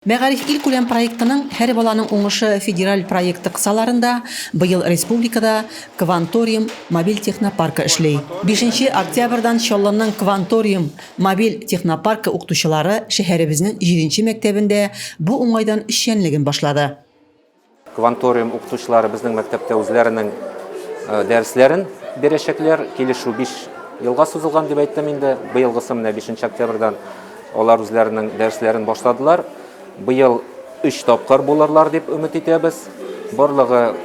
Мәгариф илкүләм проектының Һәр баланың уңышы федераль проекты кысаларында быел республикада Кванториум мобиль технопаркы эшли. Бишенче октябрьдан Чаллының Кванториум мобиль технопаркы укытучылары шәһәребезнең җиденче мәктәбендә бу уңайдан эшчәнлеген башлады. Кванториум укытучылары безнең мәктәптә үзләренең дәресләрен бирәчәкләр. Килешү 5 елга сузылган дип әйттем инде. Быелгысы менә 5 октябрьдан алар үзләренең дәресләрен башладылар. Быел 3 тапкыр булырлар дип өмет итәбез. Барлыгы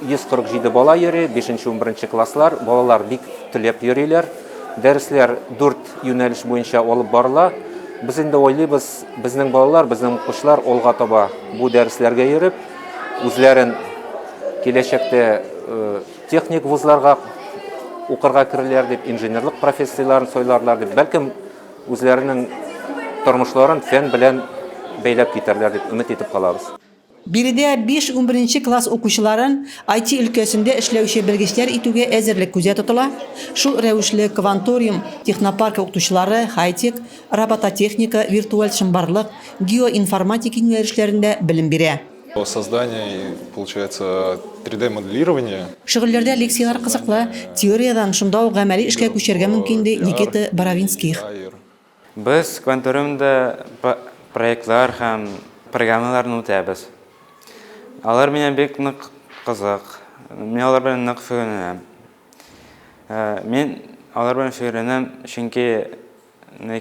147 бала йөри, 5-11 класслар. Балалар бик теләп йөриләр. Дәресләр 4 юнәлеш буенча алып барыла. Без инде уйлыйбыз, Безнең балалар, безнең укучылар алга таба бу дәресләргә йөреп, үзләрен киләчәктә техник вузларга укырга керерләр дип, инженерлык профессияләрен сайларлар дип, бәлкем үзләренең тормышларын фән белән бәйләп китәрләр дип өмет итеп калабыз. Биредә биш-унберенче класс укучыларын IT өлкәсендә эшләүче белгечләр итүгә әзерлек күздә тотыла. Шул рәвешле Кванториум технопаркы укытучылары хай-тек, робототехника, виртуаль чынбарлык, геоинформатика юнәлешләрендә белем бирә. Создание и, получается, три-дэ моделирование. Шөгыльләрдә лекцияләр кызыклы, теориядән шунда ук гамәли эшкә күчәргә мөмкин, ди Никита Боровинских. Без Кванториумда проектлар һәм программаларны үтәбез. Алар миңа бик нык кызык. Мин алар белән нык шөгыльләнәм. Мин алар белән шөгыльләнәм, чөнки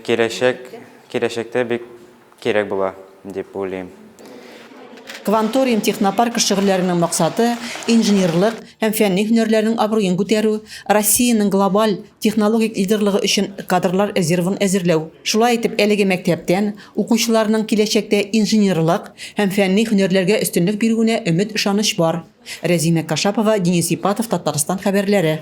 киләчәк, киләчәктә бик Кирәк була дип уйлыйм. Кванториум технопаркы шөгыльләренең максаты, инженерлык һәм фәнни һөнәрләрнең абруен күтәрү, Россиянең глобаль технологик лидерлыгы өчен кадрлар резервын әзерләү. Шулай итеп, әлеге мәктәптән укучыларның киләчәктә инженерлык һәм фәнни һөнәрләргә өстенлек бирүенә өмет-ышаныч бар. Рәзимә Кашапова, Денис Ипатов, Татарстан хәбәрләре.